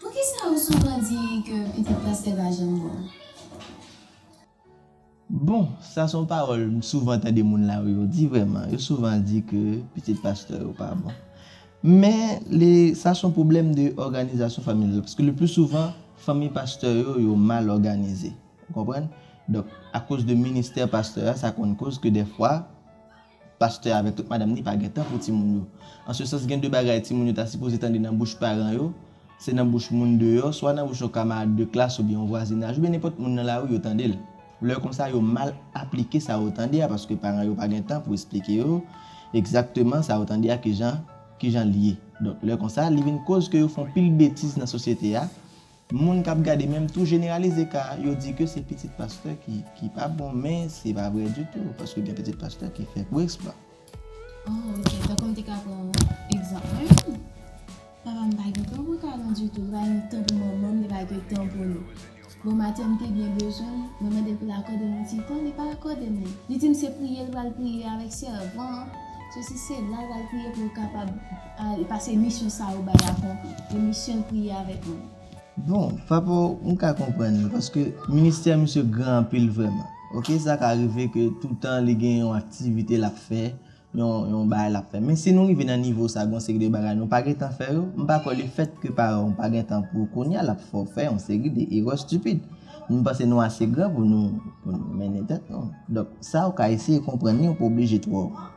Poukisa ou souvan di ke pitit pastè pa janm bon? Bon, sa son pawòl m souvan tande moun la wi yo di vrèman, yo souvan di ke pitit pastè yo pa bon. Men le sa son pwoblèm de òganizasyon familyal paske le pli souvan fanmi pastè yo yo mal òganize ou konprann? Donk akoz de ministè pastè a sa konn koz ke dèfwa Pastè avèk tout madanm ni pa gen tan pou timoun yo. An se sans gen de bagay timoun yo ta sipoze tande nan bouch paran yo, se nan bouch moun deyò, swa nan bouch yon kamarad de klas oubyen yon vwazinaj oubyen nenpòt moun nan lari yo tande l. Lè konsa yo mal aplike sa yo tande a paske paran yo pa gen tan pou esplike yo egzakteman sa yo tande a kijan kijan l ye. Donk lè konsa li vin koz ke yo fon pil betiz nan sosyete a, Moun kap gade menm tou jeneralize ka yo di ke se pitit pastè ki pa bon men se pa vre ditou paske gen pitit pastè ki fè gwo eksplwa. Oh ok tankou m te ka pran egzanp mwen menm papa m pa gen tan pou kay mwen ditou li pa gen tan pou manman m li pa gen tan pou nou bon maten m te byen bezwen l mwen mande l pou l akòde m yon ti tan li pa akòde m li li di m se priye l pral priye avèk sèvan an sosi sela l pral priye pou l kapab Al pase emisyon sa ou bay avon emisyon priye avek mwen. Bon papa m ka konprann li paske ministè misye gran anpil vrèman ok sa ka rive ke toutan li gen yon aktivite lap fè yon bagay lap fè men si nou rive nan nivo sa gon seri de bagay nou pa gentan fè yo m pa kwè le fèt ke paran w pa gentan pou kounya lap fè w fè yon seri de erè stupid m panse nou ase gran pou nou mennen tèt nou donk sa ou ka eseye konprann li ou pa oblije twò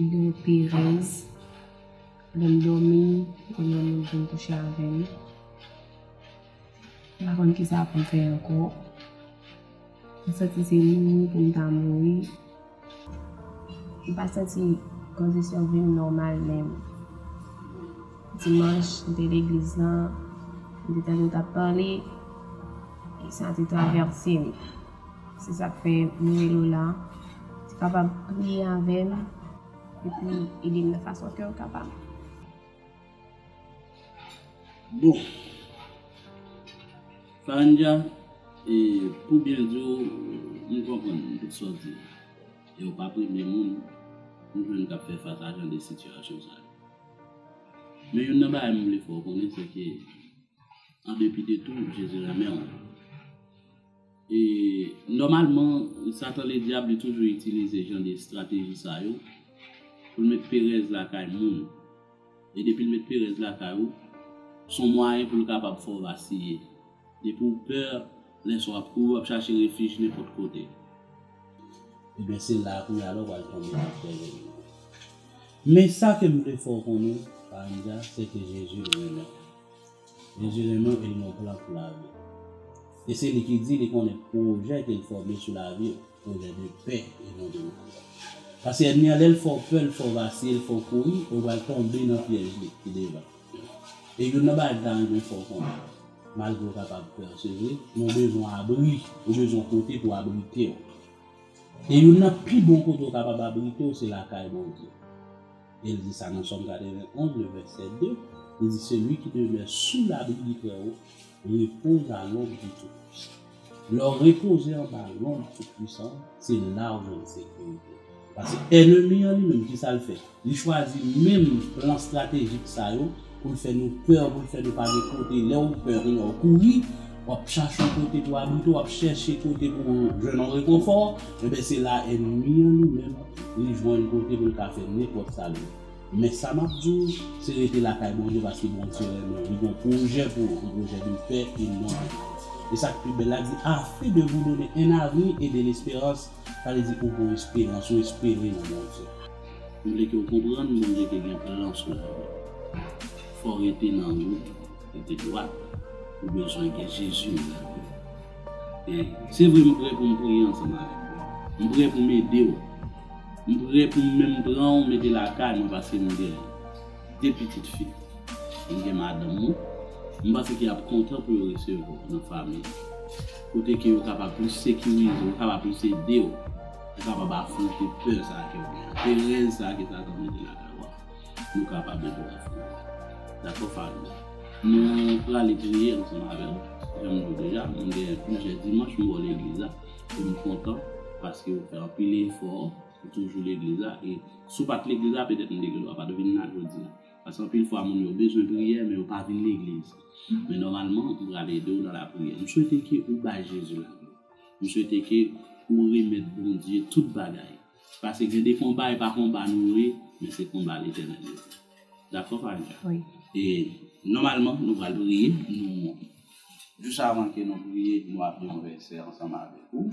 Mwen gen perèz, lè m dòmi, gen yon moun vin kouche avè m. M pa konn ki sa pou m fè ankò. M santi se mouri pou m ta mouri. M pa santi kondisyon vi m nòmal menm. Dimanch, m te legliz lan, m te tande yo t ap pale, e sa te travèse m. Se sak fè m relew la. Ou kapab priye avèm epi edem nan fason kew kapab. Bon. Faranja, e pou byen diw m konprann tout sa w di yo. Ew pa premye moun m jwenn kap fè fas a jan de sitiyasyon sa yo. Men youn nan bagay m vle fè w konnen se ke andepi de tou Jezi renmenw. E nòmalman, Satan Ledyab li toujou itilize jan de estrateji sa yo pou l met perèz lakay moun. E depi l met perèz lakay ou, s on mwayen pou l kapab fè w vasiye. Depi w pè, lè sa w ap kouri, w ap chache refij nenpòt kote. Enben, se la a kounye a la w pral tonbe nan pyèj ènmi w. Men, sa ke m vle fè w konnen, Faranja, sèke Jezi l renmen w. Jezi renmenw el mwen plan pou laviw e se li ki di li konnen pwojè kel fòme sou laviw pwojè de pè e non de malè paske ènmi an lèl fèw pè l fèw vasiye l fèw kouri ou pral tonbe nan pyèj li ki devan e youn nan bagay m ta renmen fèw konnen malgre ou kapab pè se vre men ou bezwen abri ou bezwen yon kote pou abritew e youn nan pi bon kote ou kapab abritew se lakay Bondye. E l di sa nan Sòm 91, le vèsè 2, li di, Celui qui demeure sous l'abri du Très-Haut repose à l'ombre du Tout-Puissant. Lè w repoze anba lonb Tout-Puissant an, se la ou jwenn sekirite. Paske ènemi an li menm, ki sa l fè? Li chwazi menm plan estratejik sa yo. Poul fè nou peur poul fè nou pa gen kote lèw peur gen lè ou kouri wap chache yon kote pou abrite wap chèche kote pou jwenn yon rekonfò enben se la ènmi an li menm li jwenn kote poul ka fè nenpòt sa li men sa map diw se rete lakay Bondye paske Bondye renmenw li gon pwojè pou ou yon pwojè de pè e non de mal esak pi bèl la di afin de vous donner un avenir et de l'espérance sa vle di ou gon esperans ou espere nan Bondye. M vle ke w konprann Bondye te gen plan sou lavi w. Fò w rete nan wout ou, rete dwat. Ou bezwen gen Jezi nan lavi w. E, se vre m prè pou m priye ansanm avèk ou. M prè pou m ede w. M prè pou m menm pran w mete lakay mwen paske m gen. 2 pitit fi. M gen madanm mwen, m panse ke y ap kontan pou yo resevwa w nan fanmi yo. Kote ke yo kapab plis sekirize w, yo kapab plis ede w, yo kapab afwonte pè sa ke w gen an, perèz sa ke Satan mete lakay ou an, nou kapab ede w afwonte l. Dakò fanmi mwen? Nou prale priye ansanm avè m. Jan m di w deja, mwen gen plizyè dimanch m ba w legliz la e m kontan paske ou fè anpil efò. Ou toujou legliz la e si w pat legliz la petèt m te gen dwa pat vin la jodi a. Paske anpil fwa moun yo bezwen priyè men yo pa vin legliz. Men nòmalman m pral ede w nan lapriyè. M swete ke ou bay Jezi lavi w. M swete ke ou remèt Bondye tout bagay. Paske gen de konba e pa konba nou yo ye men se konba Letènèl yo ye. Dakò Farida? Wi. E nòmalman nou pral priye. Nou jis avan ke nou priye nou ap li yon vèsè ansanm avèk ou.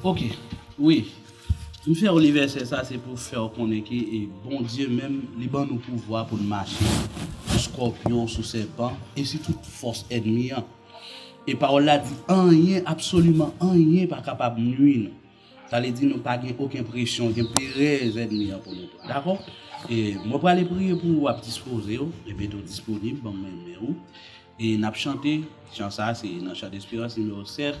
Ok wi m fèw li vèsè sa se pou fèw konnen ke Bondye menm li ban nou pouvwa poun mache sou skòpyon sou sèpan e sou tout fòs ènmi an e pawòl la di anyen absoliman anyen pa kapab nwi nou sa vle di nou pa gen oken presyon oken perèz ènmi an pou nou pran dakò e mwen prale priye pou ou ap dispozew e mete w disponib banm men men ou e nap chante chan sa se nan chan desperans nimewo 7.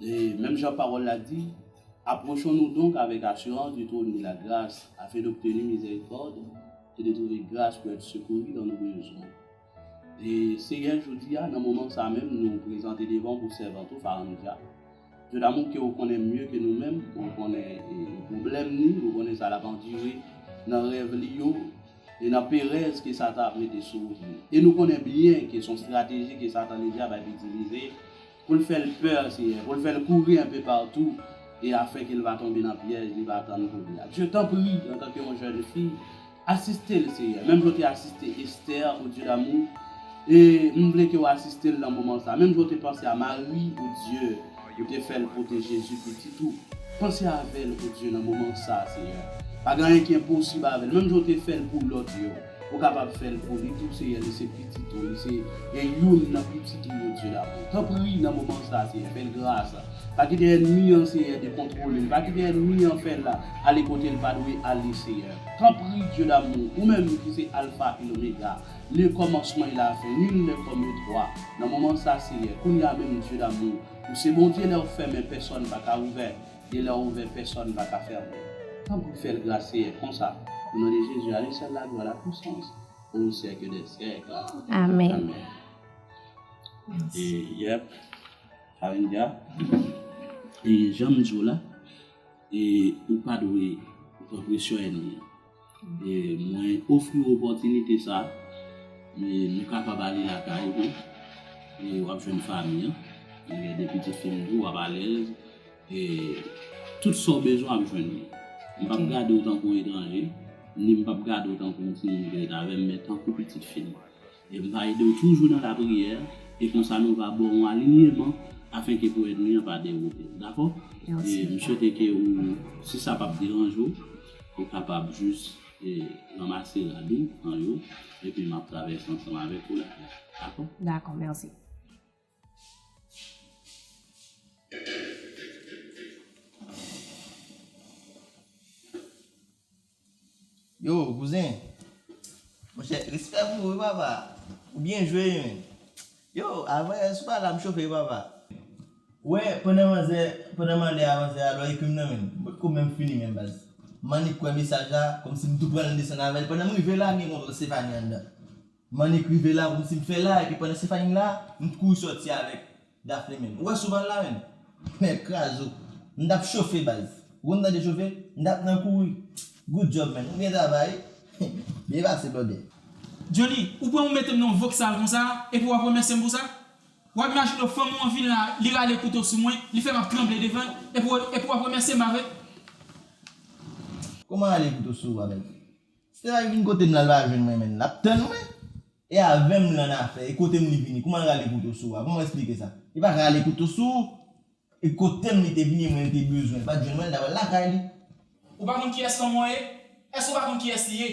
E, menm jan Pawòl la di, Apwochon-nou donk avèk asirans du trône de la grâce, afin d'obtenir miséricorde et de trouver grâce pour être secouru dans nos besoins. E, Senyè, jodi a, nan moman sa a menm, nou prezante devan Ou pou sèvant Ou, Farandja, Dieu d'amour, ke Ou konnen mye ke nou menm, Ou konnen pwoblèm ni, Ou konnen sa l'ap andire nan rèv li yo, e nan perèz ke Satan ap mete sou wout li. E nou konnen byen ke s'on strateji ke Satan le Dyab ap itilize, Pou l fè l pè, Senyè, pou l fè l kouri anpe patou e afin ke l pa tonbe nan pyèj li pa tann pou li a. Dye, tanpri, antanke yon jèn fi, asiste l, Senyè, menm jan w te asiste Estè, O Dye damou, e m vle ke w asiste l nan moman sa a. Menm jan w te panse a Mari, O Dye, ou te fè l pote Jezi, pitit ou, panse avè l, O Dye, nan moman sa a, Senyè. Pa gen anyen ki enposib avè l, menm jan w te fè l pou lòt yo. Ou kapab fèl pou li tou seyè li se pitit ou li se gen youn nan pitit ou yo di damou tanpri nan moman sa seyè fèl gras pa kite ènmi an seyè de kontwolel pa kite ènmi an fèl ale kotel pa dwe ale seyè tanpri dye damou ou menm ki se alfa e lomega le kòmansman e la fen nul nè kòm yo twa nan moman sa seyè kounya menm dye damou ou se bondye lèw fèmen pèsòn paka ouvè Delè ouvè pèsòn pa ka fèmen. Tanpri fèl gras seyè konsa o non de Jezi a li sèl la glwa la pwisans o syèk de syèk amèn yep Carindia janm diw la ou pa dwe pran presyon ènmi an. Mwen ofri w opòtinite sa a. Nou kapab ale lakay ou. W ap jwenn fanmi an. Mwen gen de pitit fi m tou, w ap alèz. Tout sa w bezwen w ap jwenn li. M p ap gade w tankou etranje, ni m p ap gade w tankou yon timoun ki ret avè m, men tankou pitit fi m. E m va ede w toujou nan lapriyè, e konsa nou va ba w yon alinyeman afenke pou ènmi an pa dewoute w. Dakò? E m swete ke ou, si sa p ap deranje w, ou kapab jis ranmase rad ou an yo, epi m ap travèse ansanm avèk ou la. Dakò? Dakò, mèsi. Yo kouzen Monchè respè pou ou wi papa Ou byen jwe wi men Yo avan yè sou pa la m chofe wi papa. Ou wè pandan manzè pandan m anlè a manzè a lò epim nan menm m potko menm fini menm baz m annik k wè mesaj la kòmsi m tou pranl m desann avèl pandan m rive la m gen kontwòl Stéphanie anndan. M annik rive la pou m si m fè la epi pandan Stéphanie la, m t kouri sòti avèk Daphné menn. Ou wè Souvann la menn? Mèd kraze w. M tap chofe baz. Ou konn tande chofe? M tap nan kouri. Good job menn. Ou byen travay. Byen pase blòdè. Johnny, ou pran ou mete m nan yon voksal konsa epi w ap remèsye m pou sa? W ap imajine w fanm ou an vin la, li rale kouto sou mwen, li fè m ap tranble devan l epi w ap remèsye m apre? Kòman rale kouto sou ou a baz? Se pa vin kotem la li pa jwenn mwen menn lap tann mwen. E avèm lan afè e kotem li vini kouman l rale kouto sou a kouman w esplike sa. Li pa rale kouto sou ou. E kotem li te vini e mwen li te bezwen li pat jwenn mwen li ta pral lakay li. Ou pa konn kiyès lanmò ye? Èske ou pa konn kiyès li ye?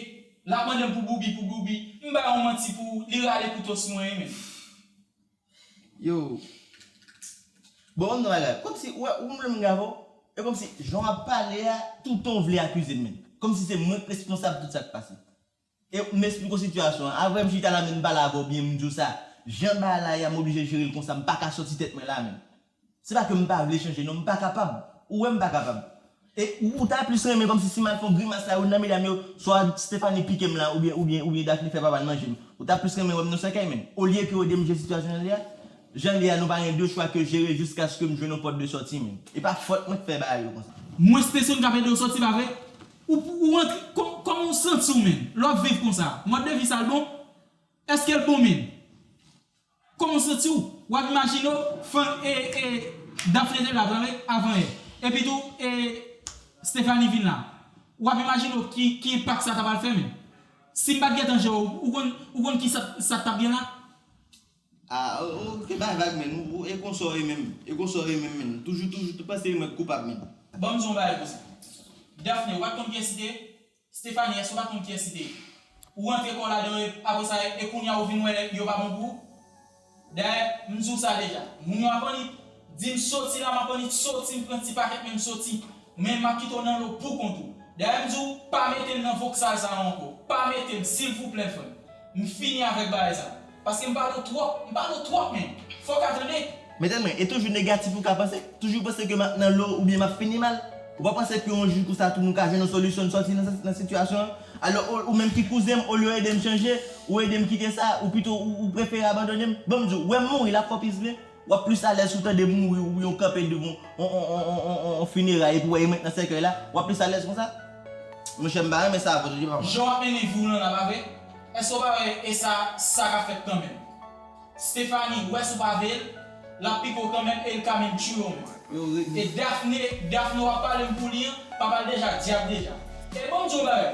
Lap mandem pou boubi pou boubi, m bay on manti pou ou li rale kouto sou mwen e menm. Yo Bon gade yon bagay komsi ou wè ou menm menm Gabo e komsi jan wap pale a toutan ou vle akizem menm komsi se mwenk responsab tout sak pase e m esplike w sitiyasyon an aprè m chita la menm m pale avè w byen m diw sa jan bagay la ye a m oblije jere l konsa m paka soti tèt mwen la menm. Se pa ke m pa vle chanje non, m pa kapab. Ou wè m pa kapab. E ou ta plis renmen kòmsi si m al fè yon grimas la youn nan medam yo, swa Stéphanie pike m la oubyen oubyen oubyen Daphné fè papa l manje m. Ou ta plis renmen wè m nan sèkèy menm. Olye ke w ede m jere sitiyasyon jan l ye a. Jan l ye a nou pa gen de chwa ke jere jiskaske m jwenn yon pòt de sòti menm. E pa fòt mwen k fè bagay yo konsa. Mwen Stéson k ap ede w sòti pa vre? Ou ou rantre kòman w santi w menm lè w ap viv konsa? Mòd de vi sa l bon? Eske l bon menm? Kòman w santi w? W ap imajine w fann e e Daphne te la vre wi avan e epi tou e Stéphanie vin la. W ap imajine w ki ki enpak sa ta pral fè men si m pa t gen tan je w ou konn ou konn ki sa sa k t ap gen la? A ou te bay vag menn ou e konsa w ye menm e konsa w ye menm menn toujou toujou tou panse e mwen k koupab menn. Ban m di w yon bagay pou w si Daphne w pa t konn kiyès li te? Stephanie èske ou pa konn kiyès li te ye? Ou rantre kòw ladan yo apre sa e kounya ou vin wè yo pa bon pou ou? Dayè m di w sa deja, moun yo ap annik di m soti la m ap annik soti m pran ti pakèt men m soti men m ap kite w nan lo pou kont ou. Dayè m di w pa mete m nan voksal sa yo ankò, pa mete m silvouplè frè m. M fini avèk bagay sa. Paske m pale w twòp. M pale w twòp men. Fò w ka tande. Mezanmi mwen e toujou negatif ou ka panse, toujou panse ke map nan lo oubyen map fini mal, ou pa panse ke yon jou konsa tou nou ka jwenn yon solisyon n sòti nan sitiyasyon an, alò ou menm ki kouzen m olye w ede m chanje, ou ede m kite sa, ou pito ou prefere abandone m, bon m di w, wè m mouri lap fò plis vre. Wap plis alèz si w tande mouri oubyen w kanpe devan yon fineray epi w wè emet nan sèkèy la, wap plis alèz konsa? Monchè m pa renmen sa vre tande papa. Jean Henry Voulanda pa vre? Eske w pa wè e sa sa ka fèt kanmenm. Stephanie wè si w pa veye l lap pike w kanmenm e l ka menm tchouye w menm. E Daphné Daphné wap pale m pou li an, papa l deja dyab deja. E bon m di w yon bagay.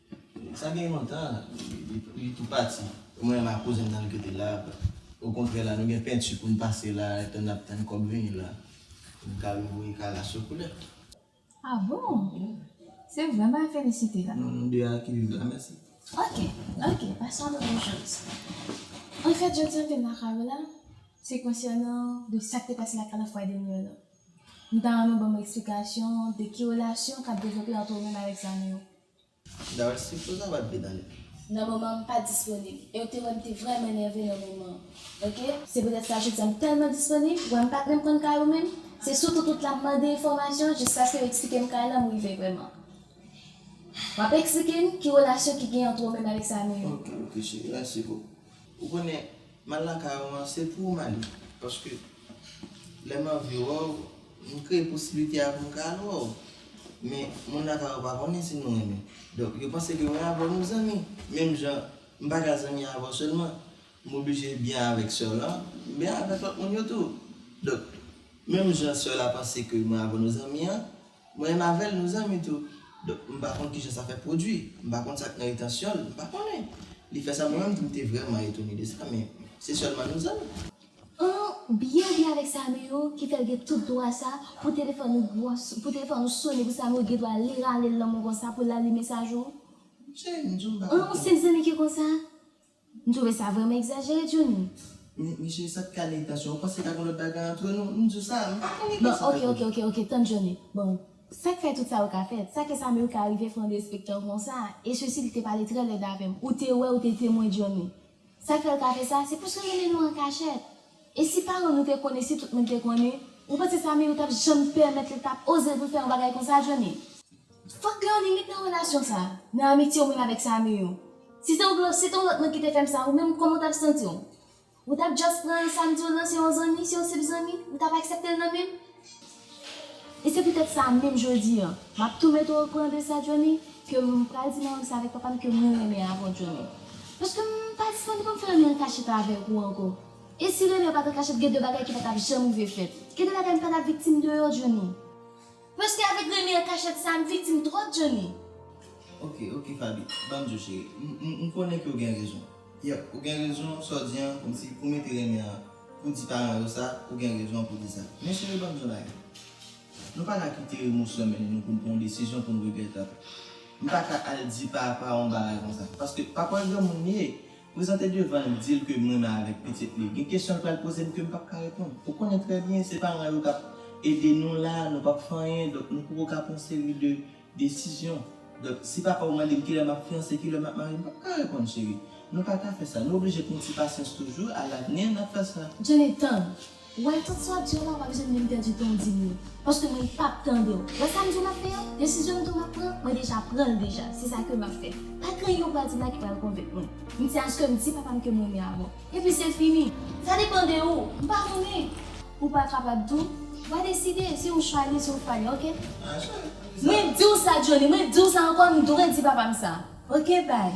Sa gen lontan li tou pati. Mwen menm ak kouzen m nan li rete la. Okontrè la nou gen penti pou n pase la etan n ap tann kòb vini la pou n ka revoye kay la sou koulè. A bon? Se vre mwen felisite la. Non nou 2 a ki viv la mèsi. Ok, ok pase yon bon jòs. Anfèt jodi an tèm lakay ou la se konsènan de sa k te pase lakay la fwa dènye an nan. M ta renmen w ban m esplikasyon de ki relasyon k ap devlope ant ou menm avèk zanmi w. Darcy, pou sa bat vidan li. Nan moman an m pa disponib e w te wè m te vrèman nève nan moman an ok. Se poutèt sa jodi a m tèlman disponib, ou wè m pa t menm konn kay ou menm, se sou tout wout la m mande enfòmasyon jiskaske yo eksplike m kay la m rive vrèman. W ap eksplike m ki relasyon ki gen antr ou menm avèk Samuel. Ok ok cheri, mèsi pou. Ou konnen M al lakay ou an se pou ou m ale paske lè m anvi wè w m kreye posiblite a pou m ka al wè w men moun lakay ou pa konnen si nou renmen donk yo panse ke mwen avè w nou zanmi menm jan m pa ka zanmi avè w sèlman m oblije byen avèk sè w lan m byen avèk lòt moun yo tou donk menm jan sè w la panse ke mwen avè w nou zanmi an. Mwen menm avèl nou zanmi tou donk m pa konn kijan sa fè pwodwi, m pa konn sak nan entansyon l, m pa konnen. Li fè sa mwen menm tou m te vrèman etone de sa men se sèlman nou zanmi. An byen byen avèk Sameyo ki fèl gen tout dwa sa pou telefòn ou gwòs pou telefòn ou sone pou Sameyo gen dwa li rale l nan mwen konsa pou l la li mesaj ou? M se, m di w m pa konn. An se zanmi ki konsa? M trouve sa vreman egzajere Johnny. Mesye sa pka gen tansyon. Ou panse ka gen lòt bagay antre nou? M diw sa, m pa konn gen tansyon kay Tony. Bon ok ok ok tann Johnny. Bon sak fè tout sa yo ka fèt? Sa ke Samuel ka rive fè yon derespektan konsa? E sesi li te pale trè lèd avèm. Ou te wè ou te temwen Johnny. Sak fèl ka fè sa? Se pouske renmen nou an kachèt. E si paran nou te konnen si tout moun te konnen ou panse Samy ou tap janm pèmèt li tap oze pou l fè yon bagay konsa Johnny. Fòk gen yon limit nan relasyon sa, nan amitye ou menm avèk Samy yo. Si se yon lòt si te yon lòt moun ki te fè m sa ou menm kòman ou tap santi w? Ou tap just pran Samy di w nan se yon zanmi, se yon senp zanmi, ou tap aksepte l nan menm? E se poutèt sa menm jodi an, m ap tou mete w o kouran de sa Johnny, ke m pral di nan lang sa avèk papa m ke mwen renmen avè w Johnny. Paske m pa dispoze pou m fè anyen an kachèt avèk ou ankò. E si renmen an pa t an kachèt gen de bagay ki pa t ap janm rive fèt. Gen de bagay m pa t ap viktim de yo Johnny. Paske avèk renmen an kachèt sa a m viktim twòp Johnny. Ok, ok Faby, ban m di w cheri, m konnen ke w gen rezon. Yep, ou gen rezon sa w di an, kòmsi pou mete renmen an Pou di paran yo sa, ou gen rezon pou di sa. Men cheri banm di yon bagay. Nou pa ka kite emosyon mennen nou pou nou pran yon desizyon pou nou regrèt apre. M pa ka al di papa w yon bagay konsa. Paske papa w granmoun li ye. Prezante devan l di l ke m renmen avèk pitit li. Gen kesyon l pral poze m ke m pap ka reponn. Ou konnen trè byen se paran yo k ap ede nou la, nou p ap fè anyen. Donk nou poko ka panse li de Desizyon Donk si papa ou mande m kilè m ap fiyanse, kilè m ap marye, m pap ka reponn cheri. Nou pa ka fè sa. Nou oblije pran ti pasyans toujou, alavni n ap fè sa. Jenny, Tann. Ou wè tout sa w di yo la ou pa bezwen menm pèdi tan w di m yo. Paske mwen pap tande w. Wè sa m di w m ap fè an? Desizyon m di w m ap pran, mwen deja pran l deja. Se sa ke m ap fè. Pa kreye yo pral di m la ki pral konvenk mwen. M di a ske m di papa m ke m renmen Amon. Epi se fini. Sa depan de ou. M pa konnen. Ou pa kapab tou. Wa deside. Se yon chwa li, se yon fwa li. Ok. Mwen di w sa Johnny, mwen di w sa ankò, m dwe di papa m sa. Ok bye.